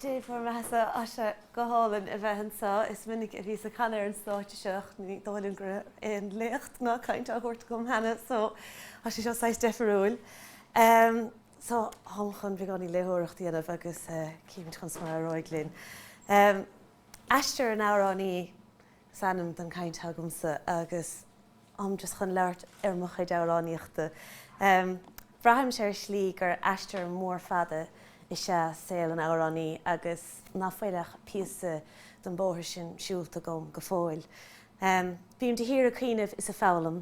Dé fuair mé tá sé go hálainn a bheith anso. Is minic a bhíos ag canadh ar an stáitse seo ach ní dóigh liom go raibh aon léacht ná caint á thabhairt agam cheana so tá sé seo saghas deifiriúil. So táim chun beagáinín léitheoireacht a dhéanamh agus cífimid conas mar a éireoidh linn. Aistear an Amhránaí is ainm don chaint atá agamsa agus táim just chun labhairt ar mo chuid amhránaíochta. Braithimse ar shlí gur aistear mór fada is ea saol an amhránaí agus ná fuil ach píosa den bóthar sin siúlta agam go fóill. Bím de shíor ag cuimhneamh is ag foghlaim.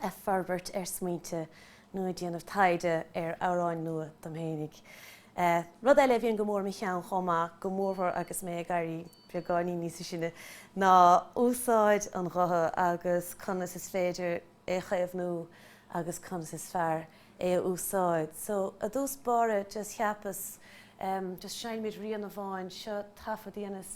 ag forbairt ar smaointe nó ag déanamh taighde ar amhráin nua dom fhéinig. Rud eile a bhíonn go mór i mo cheann chomh maith, go mórmhór agus mé ag éirí beagáinín níosa sine, ná úsáid an ghutha agus conas is féidir é a chaomhnú agus conas is fearr é a úsáid. So, i dtús báire just cheapas just seinnfimid rian amháin, seo taifead a dhéanas,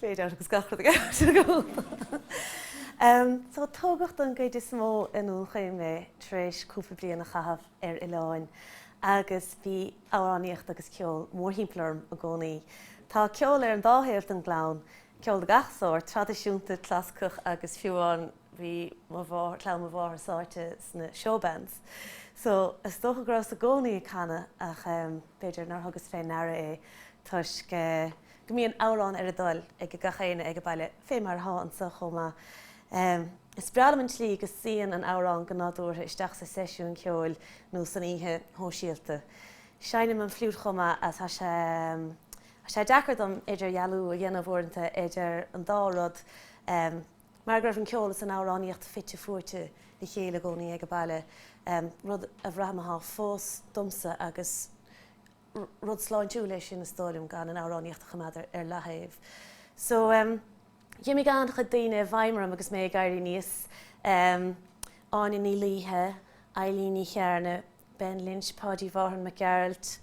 fade out agus gach rud ag amharc ar gcúl. So tógadh don gcuid is mó i nDún Chaoin mé tar éis cúpla bliain a chaitheamh ar oileáin agus bhí amhránaíocht agus ceol mórthimpeall orm i gcónaí. Tá ceol ar an dá thaobh den gclann, ceol de gach sórt, traidisiúnta, clasaiceach agus fiú amháin bhí clann mo mháthar sáite sna show bands. So is dócha go rabhas i gcónaí ag canadh ach b'fhéidir nár thugas fé ndeara é toisc eh, go mbíonn amhrán ar a dtoil ag gach éinne ag a' baile, fé mar atá anso chomh maith. Is breá liom an tslí go suíonn an amhrán go nádúrtha isteach sa seisiún ceoil nó san oíche shóisialta. Seinnim an fliút chomh maith a's tá sé, tá sé deacair dom idirdhealú a dhéanamh uaireanta idir an dá rud mar go raibh an ceol is an amhránaíocht fite fuaite le chéile i gcónaí ag a' baile, rud a bhraithim athá fós domsa agus. Rud sláintiúil é sin is dóigh liom, gan an amhránaíocht a choimeád ar leathaobh. So, em, d'imigh an-chuid daoine i bhfeidhm orm agus mé ag éirí aníos, em, Áine Ní Laoithe, Eilín Ní Chearna, Ben Lynch, Páidí Mhárthain Mac Gearailt,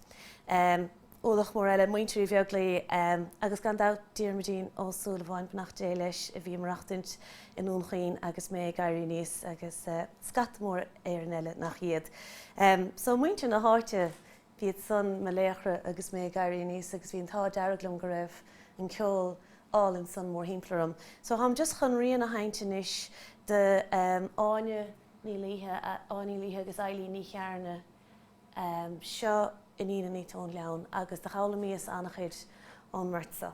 em, ualach mór eile, Muintir Uí Bheaglaoi, em, agus gan dabht Diarmuidín Ó Súilleabháin, beannacht Dé leis, a bhí ag maireachtaint i nDún Chaoin agus mé ag éirí aníos agus, eh, scata mór Éireann eile nach iad. Em, so muintir na háite, b'iad san mo laochra agus mé ag éirí aníos agus bhí an t-ádh dearg liom go raibh an ceol álainn san mórthimpeall orm. So táim just chun rian a sheinnt anois de em Áine Ní Laoithe, Áine Ní Laoithe agus Eilín Ní Chearna, em seo Iníon an Fhaoit' ón Ghleann agus do dh'fhoghlaimíos ana-chuid ón mbeirt so.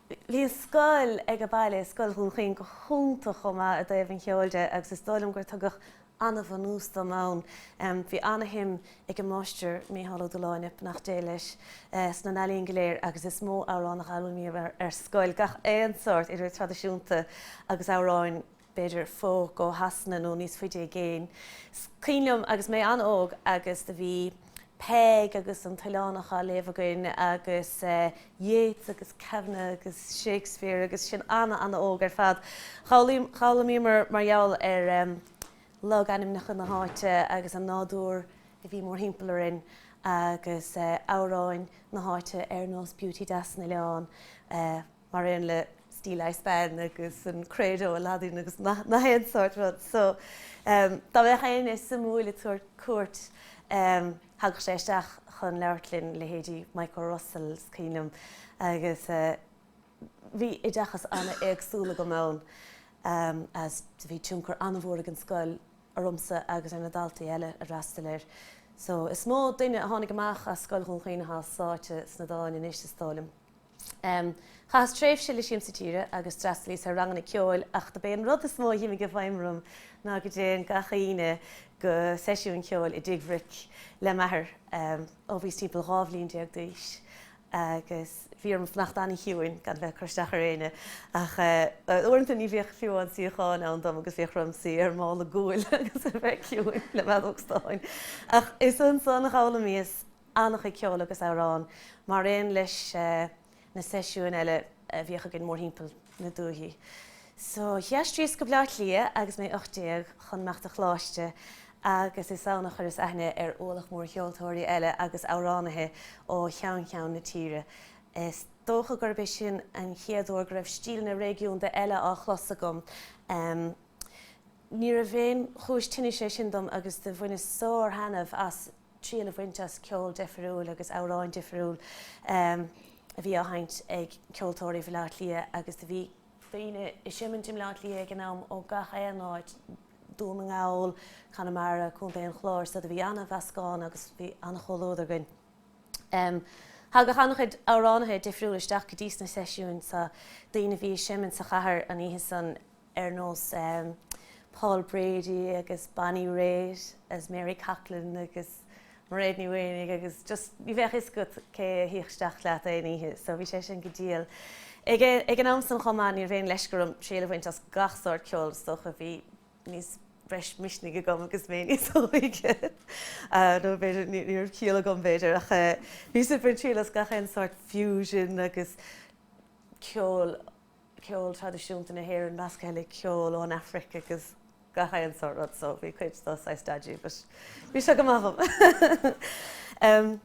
Bhí an scoil age baile, Scoil Dhún Chaoin, go hiontach chomh maith i dtaobh an cheoil de agus is dóigh liom gur tugadh an-bhunús dom ann. Bhí an-shuim ag an Máistir Micheál Ó Dubhshláine, beannacht Dé leis, sna n-ealaíon go léir agus is mó amhrán a dh'fhoghlaimíomar ar scoil, gach aon sórt, idir traidisiúnta agus amhráin. b'fhéidir folk ó Shasana nó níos faide i gcéin. 's cuimhin liom agus mé an-óg agus do bhí Peig agus an tOileánach á léamh againn agus Yeats agus Kavanagh agus Shakespeare agus sinn ana ana óg ar fad. D'fhoghlaimíomar mar gheall ar logainmneacha na háite agus an nádúr a bhí mórthimpeall orainn agus amhráin na háite ar nós Beauty Deas an Oileáin, mar aon le Steeleye Span agus an Credo i Laidin agus nach aon sórt rud so dá mbeadh éinne suimiúil ar cuairt thagadh sé isteach chun labhairt linn, leithéidí Micho Russell 's cuimhin liom agus bhí oideachas an-éagsúil agam ann is bhí tionchar an-mhór ag an scoil ormsa agus ar na daltaí eile a d'fhreastail air so is mó duine a tháinig amach as Scoil Dhún Chaoin atá sáite sna dáin anois is dóigh liom. Chaitheas tréimhse le Siamsa Tíre agus d'fhreastalíos ar ranganna ceoil ach dob é an rud is mó a dh'imigh i bhfeidhm orm ná go dtéinn gach Aoine go seisiúin ceoil i dTigh Bhric le m'athair ó bhíos timpeall dhá bhliain déag d'aois agus bhí orm fanacht an-chiúin gan a bheith ag cur isteach ar éinne ach uaireanta ní bhíodh fiú aon suíochán ann dom agus bhíodh orm suí ar mála guail agus a bheith ciúin le m'fheadóg stáin. Ach is ansan a dh'fhoghlaimíos an-chuid ceoil agus amhrán, mar aon leis na seisiúin eile a bhíodh againn mórthimpeall na dúthaí. So, d'aistríos go Baile Átha Cliath agus mé 18, chun imeacht ar choláiste, agus is ann a chuireas aithne ar ualach mór ceoltóirí eile agus amhránaithe ó cheann ceann na tíre. Is dócha gurb é sin an chéad uair go raibh stíleanna réigiúnda eile á chlos agam. Níorbh aon chúis tinnis é sin dom agus do bhaineas sár-thaitneamh as. triail a bhaint as ceol difiriúil agus amhráin difiriúil a bhí á sheinnt ag ceoltóirí Bhaile Átha Cliath agus do bhí daoine ag seimint i mBleá Cliath ag an am ó gach aon áit, Dún na nGall, Conamara, Contae an Chláir, so do bhí an-mheascán agus bhí an-chomhluadar againn. Thagadh an-chuid amhránaithe difiriúla isteach go dtís na seisiúin so daoine a bhí ag seimint sa chathair an oíche san, ar nós Paul Brady agus Bonnie Raitt is Mary Coughlan agus Mairéad Ní Mhaonaigh agus just ní bheadh fhios agat cé a théadh isteach leat aon oíche so bhí sé sin go diail. Ag an am san chomh maith ní raibh aon leisce orm triail a bhaint as gach sórt ceoil is dócha bhí breis misnigh agam agus mé níos óige nó b'fhéidir ní raibh ciall agam b'fhéidir ach bhíos ag baint triail as gach aon sórt fusion agus ceol ceol traidisiúnta na hÉireann measctha le ceol ón Afraic agus gach aon sórt rud so bhí cuid de saghas dodgy but bhí sé go maith dhom.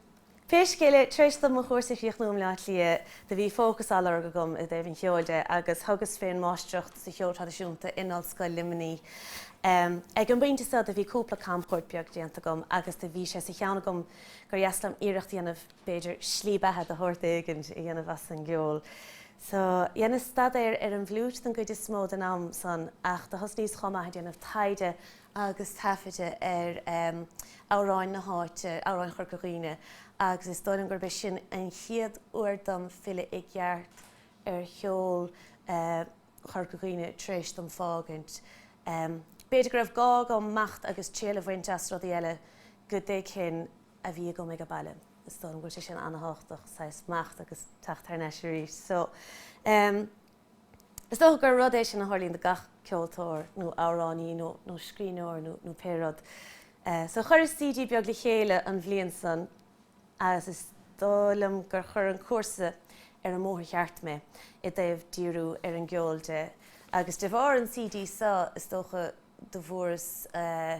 Pé scéal é, tar éis dom mo chúrsa a chríochnú i mBleá Cliath do bhí fócas á lorg agam i dtaobh an cheoil de agus thugas fé an Mháistreacht sa Cheol Traidisiúnta in Ollscoil Luimnigh. Ag an bpointe so do bhí cúpla camchuairt beag déanta agam agus do bhí sé sa cheann agam gur dheas liom iarracht a dhéanamh b'fhéidir slí beatha de shórt éigin a dhéanamh as an gceol. So, dheineas staidéar ar an bhfliúit den gcuid is mó den am san, ach do thosnaíos chomh maith ag déanamh taighde agus taifeada ar amhráin na háite, amhráin Chorca Dhuibhne, agus is dóigh liom gurb é sin an chéad uair dom filleadh i gceart ar cheol Chorca Dhuibhne tar éis dom fágaint. B'fhéidir go raibh gá agam imeacht agus triail a bhaint as rudaí eile go dtuigfinn, a bhí againn aige baile. Is dóigh liom go bhfuil sé sin an-tábhachtach, saghas imeacht agus teacht thar n-ais arís. So, em, is dócha gur rud é sin a tharlaíonn do gach ceoltóir nó amhránaí nó, nó scríbhneoir nó, nó pé rud. Eh, so chuireas CD beag le chéile an bhliain san agus is dóigh liom gur chuir an cúrsa ar an mbóthar cheart mé i dtaobh díriú ar an gceol de agus de bharr an CD so is dócha do bhfuaireas, eh,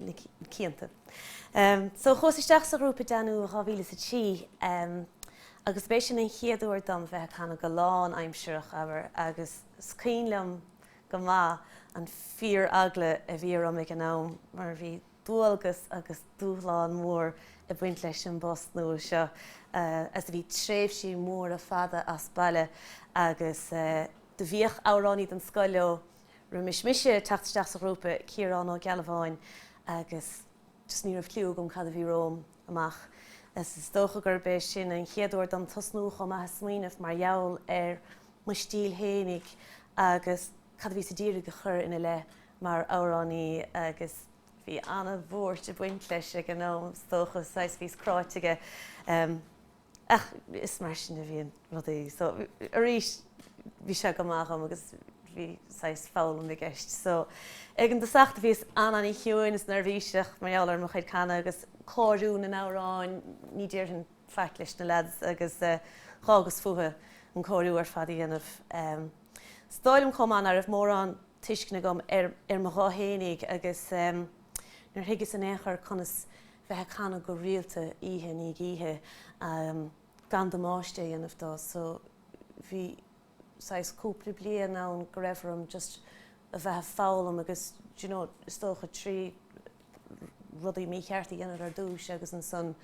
na cianta. So chuas isteach sa ghrúpa Danú i 2003 agus b'é sin an chéad uair dom bheith ag canadh go lán aimsireach, abair, agus is cuimhin liom go maith an fíor eagla a bhí orm ag an am mar bhí dualgas agus dúshlán mór ag baint leis an bpost nua seo is bhí tréimhsí móra fada as baile agus do bhíodh amhránaí den scoth leo Roimis mise teacht isteach sa ghrúpa, Ciarán Ó Gealbháin agus just ní raibh cliú agam cad a bhí romham amach. Is dócha gurb é sin an chéad uair dom tosnú chomh maith ag smaoineamh mar gheall ar mo stíl fhéinig agus cad a bhíos a d'iarraidh a chur ina leith mar amhránaí agus bhí ana-bhuairt ag baint leis ag an am is dócha, saghas bhíos cráite aige. Ach is mar sin a bhíonn rudaí. So, arís, bhí sé go maith dhom agus bhí saghas foghlaim i gceist. So, ag an dtosach do bhíos an-chiúin is neirbhíseach mar gheall ar mo chuid canadh agus cóiriú na n-amhráin, ní déarfainn faic leis na leaids agus dh'fhágas fúthu an cóiriú ar fad a dhéanamh. Is dóigh liom chomh maith ná raibh mórán tuisceana agam ar mo ghuth fhéinig agus nár thuigeas in aon chor conas bheith ag canadh go rialta oíche i ndiaidh oíche gan damáiste a dhéanamh dó so bhí saghas cúpla bliain ann go raibh orm just a bheith a' foghlaim agus do you know is dócha trí rudaí mícheart a dhéanamh ar dtús agus ansan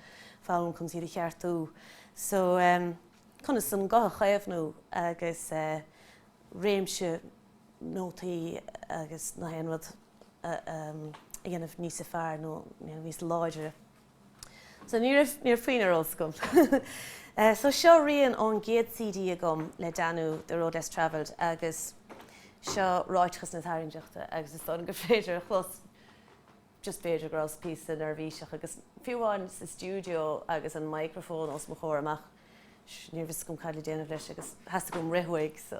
foghlaim conas iad a cheartú so ehm conas an guth a chaomhnú agus eh réimse nótaí agus na haon rud a dhéanamh níos fearr nó níos láidre. So ní raibh ní raibh puinn ar eolas agam. So seo rian ón gcéad CD agam le Danú, The Road Less Travelled agus seo Ráiteachas na Tairngreachta agus is dóigh liom gur féidir a chlos just b'fhéidir go rabhas píosa neirbhíseach agus fiú amháin sa stiúideo agus an microphone os mo chomhair amach ní raibh fhios agam cad le déanamh leis agus theastaigh uaim rith uaidh so.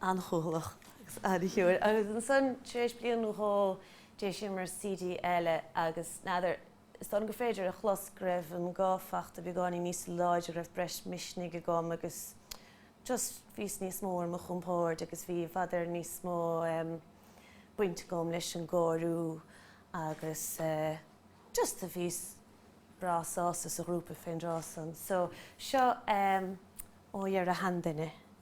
an-chúthalach agus an-chiúin agus ansan tar éis bliain nó dhó d'eisíomar CD eile agus n'fheadar, is dóigh liom gur féidir a chlos go raibh an guth fachta beagáinín níos láidre, go raibh breis misnigh agam agus just bhíos níos mó ar mo chompórd agus bhí i bhfad Éireann níos mó baint agam leis an gcóiriú agus just a bhíos breá sásta sa ghrúpa fén dtráth san. So seo Ó Dheara Sheanduine.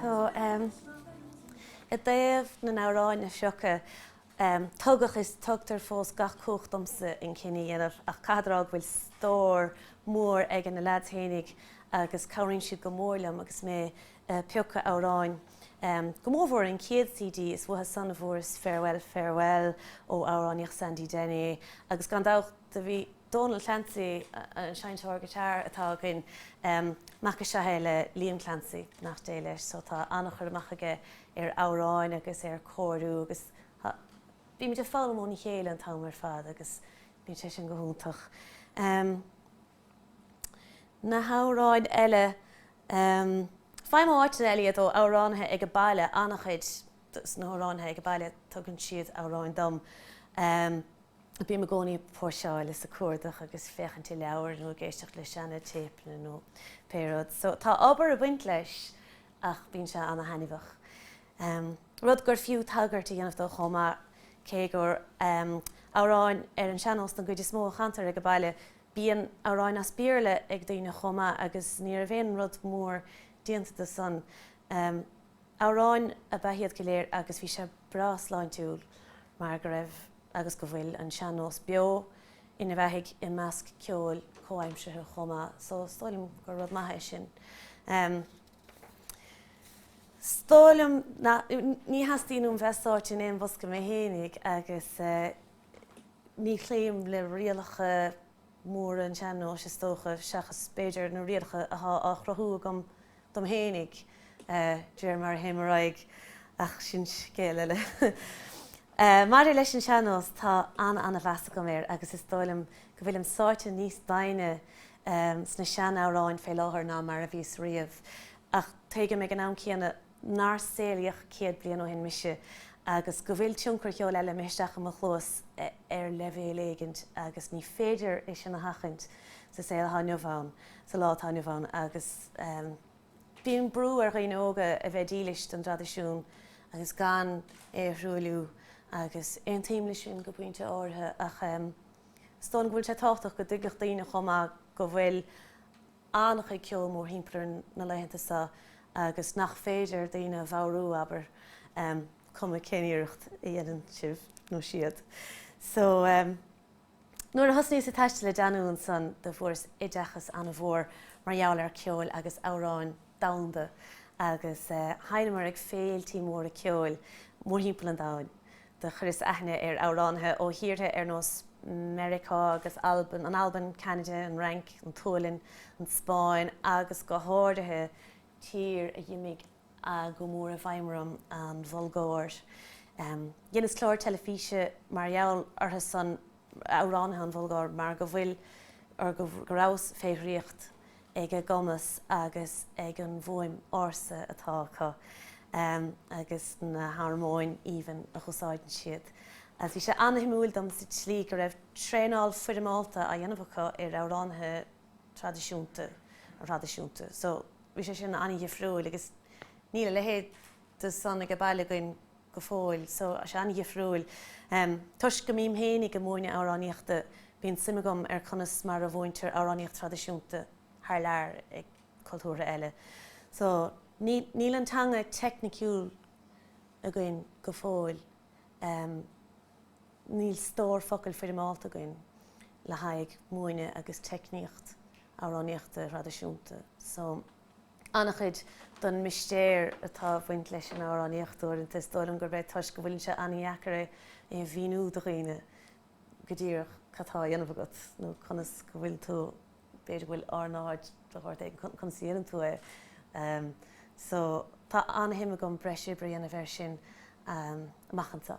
So, i dtaobh na n-amhráin a phiocadh, tugadh is tugtar fós gach cumhacht domsa an cinneadh a dhéanamh ach caithfead a rá go bhfuil stór mór ag na leaids fhéinig agus cabhraíonn siad go mór liom agus mé a' piocadh amhráin, go mórmhór an chéad CD, is uathu san a fuaireas Farewell, Farewell ó amhránaíocht Sandy Denny agus gan dabht do bhí. Dónal Clancy, an seinnteoir guitar atá againn, mac is ea é le Liam Clancy beannacht Dé leis so tá an-chur amach aige ar amhráin agus ar cóiriú agus bímid ag foghlaim óna chéile an t-am ar fad agus bíonn sé sin go hiontach. Na hamhráin eile, faighim ó áiteanna eile iad, ó amhránaithe ag baile, an-chuid de na hamhránaithe ag baile tugann siad amhráin dom. Bím i gcónaí ag póirseáil is ag cuardach agus féachaint i leabhair nó ag éisteacht le seana téipeanna nó pé rud. So tá obair ag baint leis ach bíonn sé ana thaitneamhach. Rud gur fiú tagairt a dhéanamh dó chomh maith, cé gur amhráin ar an seannós den gcuid is mó a chantar age baile, bíonn amhráin as Béarla ag daoine chomh maith agus ní raibh aon rud mór déanta de san. Amhráin ab ea iad go léir agus bhí sé breá sláintiúil mar go raibh agus go bhfuil an sean-nós beo ina bheathaigh i measc ceoil comhaimsirthe chomh maith so is dóigh liom gur rud maith é sin. Is dóigh liom, ní theastaíonn uaim bheith sáite in aon bhosca mé fhéinig agus ní chloím le rialacha móra an tsean-nóis is dócha seachas b'fhéidir na rialacha atá á chruthú agam dom fhéinig, d'réir mar a théim ar aghaidh, ach sin scéal eile. Maidir leis an sean-nós, tá ana-mheas agam air agus is dóigh liom go bhfuilim sáite níos doimhne sna sean-amhráin fé láthair ná mar a bhíos riamh, ach tuigim ag an am céanna nár saolaíodh céad bliain ó shin mise agus go bhfuil tionchar ceol eile imithe isteach i mo chluas ar leibhéal éigint agus ní féidir é sin a sheachaint sa saol athá inniu ann. sa lá atá inniu ann agus bíonn brú ar dhaoine óga a bheith dílis don dtraidisiún agus gan é a thruailliú agus aontaím leis sin go pointe áirithe ach is dóigh liom go bhfuil sé tábhachtach go dtuigfeadh daoine chomh maith go bhfuil an-chuid ceoil mórthimpeall orainn na laethanta seo agus nach féidir daoine a bhodhrú, abair, cuma cén iarracht a dhéanann sibh nó siad. So. Nuair a thosnaíos ag taisteal le déanaí ansan do fuaireas oideachas ana mhór mar gheall ar cheol agus amhráin domhanda agus thánamar ag féiltí móra ceoil mórthimpeall an domhain. Do chuireas aithne ar amhránaithe ó thíortha ar nós Meiriceá agus Albain, an Albain, Ceanada, an Fhrainc, an tSualainn, an Spáinn agus go háirithe tír a d'imigh go mór i bhfeidhm orm an Bhulgáir. Dheineas clár teilifíse mar gheall orthusan, amhránaithe an Bhulgáir, mar go bhfuil, or go rabhas, fé dhraíocht ag a gcumas agus ag an bhfuaim ársa atá acu agus na harmóin aoibhinn a úsáideann siad. Bhí sé ana-shuimiúil dom sa tslí go raibh traenáil foirmeálta á dhéanamh acu ar amhránaithe traidisiúnta. So, bhí sé sin an-dhifriúil agus níl a leithéid de san age baile againn go fóill. So, tá sé an-dhifriúil. Toisc go mbím fhéinig ag múineadh amhránaíochta, bíonn suim agam ar conas mar a mhúintear amhránaíocht thraidisiúnta thar lear ag cultúrtha eile. So, níl an teanga teicniciúil againn go fóill. Níl stór focail foirmeálta againn le haghaidh múineadh agus teicníocht amhránaíochta thraidisiúnta so an-chuid don mistéir atá ag bhaint leis an amhránaíocht uaireanta is dóigh liom gurb é toisc go bhfuileann sé an-dheacair é a mhíniú do dhaoine go díreach cad tá á dhéanamh agat nó conas go bhfuil tú b'fhéidir go bhfuil ornáid de shórt éigin conas a dhéanann tú é ehm so tá an-shuim agam breis oibre a dhéanamh air sin amach anseo.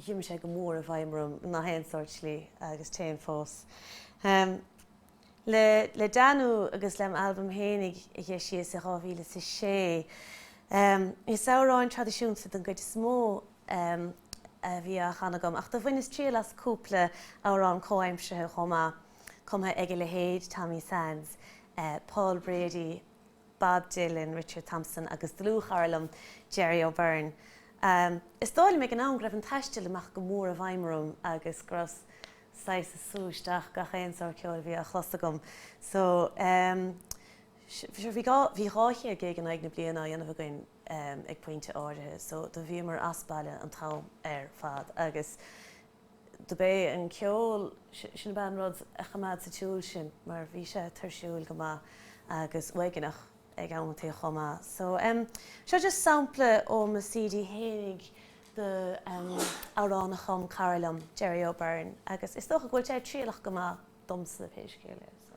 Chuaigh sé go mór i bhfeidhm orm i ngach aon sórt slí, agus téann fós. Le Danú agus le m'albam fhéinig a d'eisíos i 2006, is amhráin traidisiúnta den gcuid is mó a bhí á chanadh agam, ach do bhaineas triail as cúpla amhrán comhaimseartha chomh maith, cumtha ag a leithéid Tommy Sands, Paul Brady, Bob Dylan, Richard Thompson agus dlúthchara liom, Gerry O'Beirne. Is dóigh liom ag an am go raibh an taisteal amach go mór i bhfeidhm orm agus go rabhas saghas ag sú isteach gach aon sórt ceoil a bhí á chlos agam. So, bhí 200 gig in aghaidh na bliana á dhéanamh againn ag pointe áirithe so do bhíomar as baile an t-am ar fad agus, do b'é an ceol, sin ab ea an rud a choimeád sa tsiúl sinn mar bhí sé tuirsiúil go maith agus uaigneach ag amanntaí chomh maith. So, em, seo just sampla ó mo CD fhéinig do, em, amhrán a chum cara liom, Gerry O'Beirne, agus is dócha go bhfuil sé trialach go maith domsa pé scéal é. So.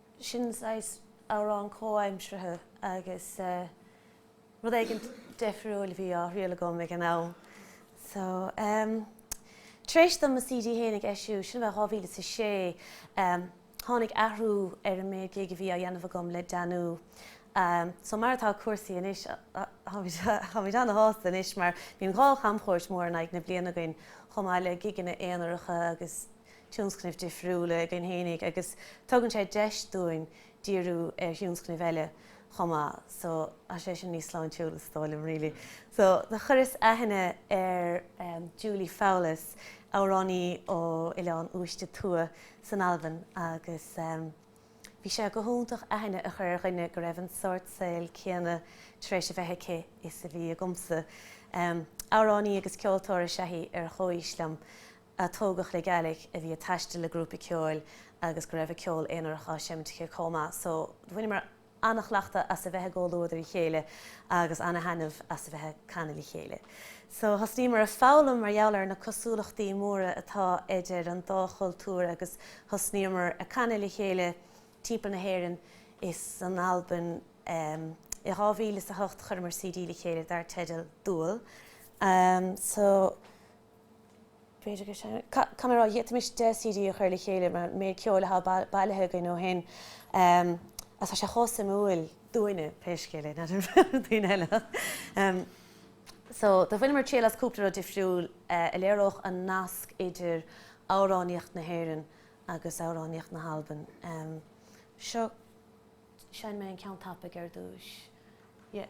sin saghas amhrán comhaimseartha agus rud éigin deifriúil a bhí á thriail agam ag an am. So ehm tar éis dom mo CD fhéinig a eisiúint, sin bheith dhá mhíle is a sé, ehm tháinig athrú ar an méid gig a bhí á dhéanamh agam le Danú. Ehm so mar atá cúrsaí anois, táimid ana-shásta anois mar bíonn dhá chamchuairt mhór in aghaidh na bliana againn chomh maith le gigeanna aonaracha agus, tionscnaimh difriúla againn fhéinig agus tugann sé deis dúinn díriú ar thionscnaimh eile chomh maith so tá sé sin níos sláintiúla is dóigh liom really. So do chuireas aithne ar Julie Fowlis, amhránaí ó Oileán Uaiste Tuath san Albain agus bhí sé go hiontach aithne a chur ar dhuine go raibh an sort saol céanna tar éis a bheith aici is a bhí agamsa. Amhránaí agus ceoltóir is ea í ar chomhaois liom. a tógadh le Gaelic, a bhí ag taisteal le grúpa ceoil agus go raibh a ceol aonarach á seimint aici comh maith. So bhaineamar ana-chleachtadh as a bheith i gcomhluadar a chéile agus ana-thaitneamh as a bheith ag canadh le chéile. So thosnaíomar ag foghlaim mar gheall ar na cosúlachtaí móra atá idir an dá chultúr agus thosnaíomar ag canadh le chéile timpeall na hÉireann is an Albain. I dhá mhíle is a hocht chuireamar CD le chéile dar teideal Dual. So. B'fhéidir go sin cad a d'fhéadfaimis deich CD a chur le chéile mar an méid ceoil atá bailithe againn ó shin agus tá sé chomh suimiúil dúinne pé scéal é, not sure faoi dhaoine eile ach. So do bhaineamar triail as cúpla rud difriúil a léireodh an nasc idir amhránaíocht na hÉireann agus amhránaíocht na hAlban. Seo, seinnfidh mé an ceann tapaidh ar dtús. Yeah.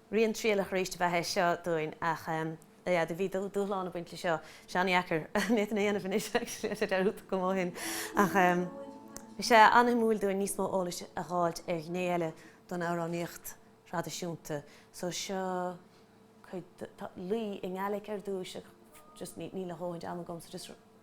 Rian trialach arís ab ea é seo dúinn ach yeah do bhí dúshlán ag baint leis seo. Is an-dheacair an méid sin a dhéanamh anois actually, tá sé dearúdta agam ó shin ach bhí sé an-suimiúil dúinn níos mó eolais a dh'fháilt ar ghné eile den amhránaíocht thraidisiúnta so seo cuid de, tá, laoi i nGaelic ar dtús ach just níl a dhóthaint ama agam so just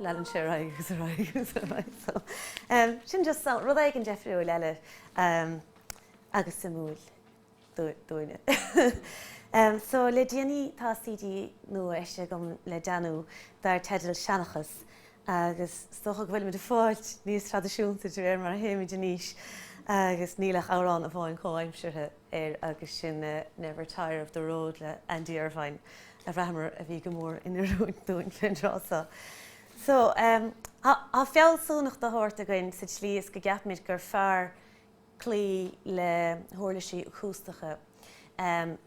Leanann sé ar aghaidh agus ar aghaidh agus ar aghaidh so sin just rud éigin deifriúil eile agus suimiúil dúinne. So le déanaí tá CD nua eisithe agam le Danú dar teideal Seanchas agus is dócha go bhfuilimid ag fáilt níos traidisiúnta de réir mar a théimid in aois agus níl ach amhrán amháin chomhaimseartha air agus sin Never Tire of the Road le Andy Irvine a bhraitheamar a bhí go mór in oiriúint dúinn fén dtráth seo. So, tá fealsúnacht de shórt againn sa tslí is go gceapaimid gur fearr cloí le huirlisí acústacha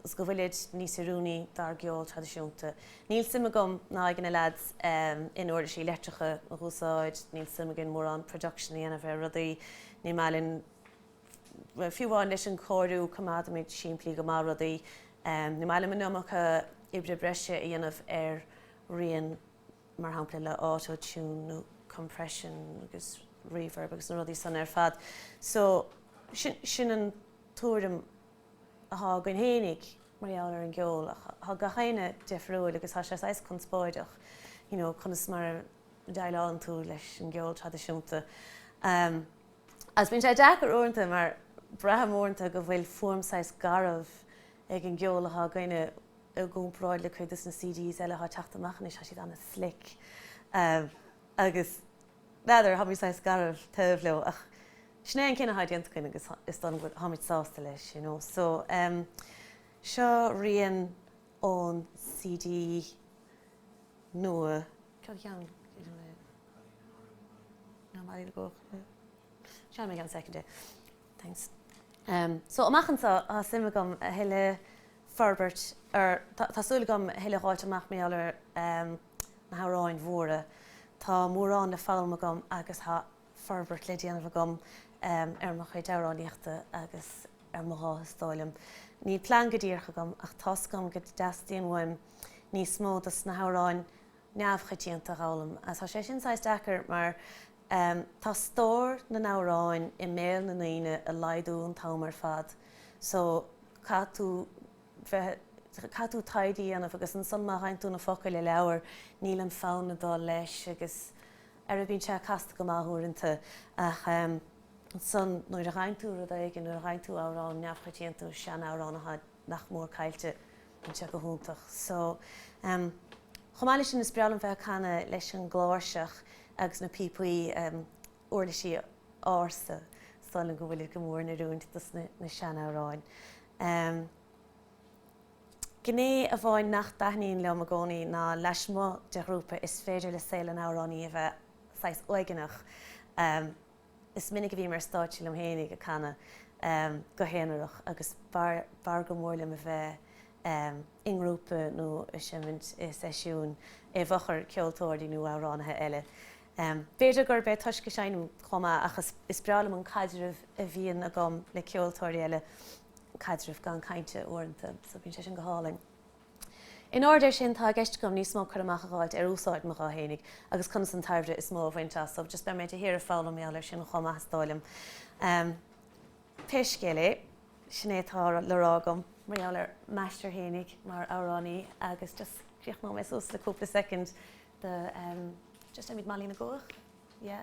is go bhfuilid níos oiriúnaí dár gceol traidisiúnta. Níl suim agam ná ag na leaids in uirlisí leictreacha a dh'úsáid, níl suim againn mórán production a dhéanamh ar rudaí, ní maith linn. Fiú amháin leis an cóiriú coimeádaimid simplí go maith rudaí. Ní maith linn an iomarca oibre breise a dhéanamh ar rian mar shampla le auto tune nó compression agus reverb agus na rudaí san ar fad. So sin an tuairim athá againn fhéinig mar gheall ar an gceol ach thá gach éinne difriúil agus thá sé saghas conspóideach you know conas mar a deighleálann tú leis an gceol traidisiúnta. Agus bíonn sé deacair uaireanta mar braithim uaireanta go bhfuil fuaim saghas garbh ag an gceol atá againne i gcomparáid le cuid dos na CDs eile atá ag teacht amach anois, tá siad an-slick agus n'fheadar, táimid saghas garbh taobh leo ach sin é an cinneadh atá déanta againn agus is dóigh liom go táimid sásta leis you know. So seo rian ón CD nua. Cad a cheann idir mé ná Mollaí na gCuach? Seinnfidh mé i gceann soicind é. Thanks. So, amach anseo, tá suim agam a thuilleadh forbairt ar, tá súil agam a thuilleadh a dh'fháilt amach mar gheall ar na hamhráin mhóra. Tá mórán le foghlaim agam agus tá forbairt le déanamh agam ar mo chuid amhránaíochta agus ar mo ghuth is dóigh liom. Níl plean go díreach agam ach tá's agam go dteastaíonn uaim níos mó dos na hamhráin neamhchoitianta a dh'fhoghlaim. Is tá sé sin saghas deacair mar tá stór na n-amhráin i mbéal na ndaoine ag laghdú an t-am ar fad so caithfidh tú bheith, caithfidh tú taighde a dhéanamh agus ansan má dh'fhaigheann tú na focail i leabhar níl an fonn ag dul leis agus. Ara bíonn sé casta go maith uaireanta ach ansan nuair a dh'fhaigheann tú rud éigin, nuair a dh'fhaigheann tú amhrán neamhchoitianta nó sean-amhrán atá nach mór caillte, bíonn sé go hiontach. So, chomh maith leis sin is breá liom bheith ag canadh leis an gcláirseach agus na píopaí, uirlisí ársa, is dóigh liom go bhfuilid go mór in oiriúint dos na sean-amhráin. Gné amháin nach dtaitníonn liom i gcónaí ná lasmuigh de ghrúpa is féidir le saol an amhránaí a bheith saghas uaigneach. Is minic a bhím ar stáitse liom fhéinig ag canadh go haonarach agus b'fhearr go mór liom a bheith i ngrúpa nó ag seimint i seisiún i bhfochair ceoltóirí nó amhránaithe eile. B'fhéidir gurb é toisc go seinnim chomh maith ach is breá liom an caidreamh a bhíonn agam le ceoltóirí eile. caidreamh gan cainte uaireanta so bíonn sé sin go hálainn. In airde air sin tá i gceist agam níos mó cur amach a dh'fháilt ar úsáid mo ghutha fhéinig agus conas an tairbhe is mó a bhaint as so just beidh mé de shíor ag foghlaim mar gheall air sin chomh maith is dóigh liom. Em pé scéal é sin é atá le rá agam mar gheall ar m'aistear fhéinig mar amhránaí agus just críochnóidh mé suas le cúpla soicind de em just Emmett Molly na gCuach yeah.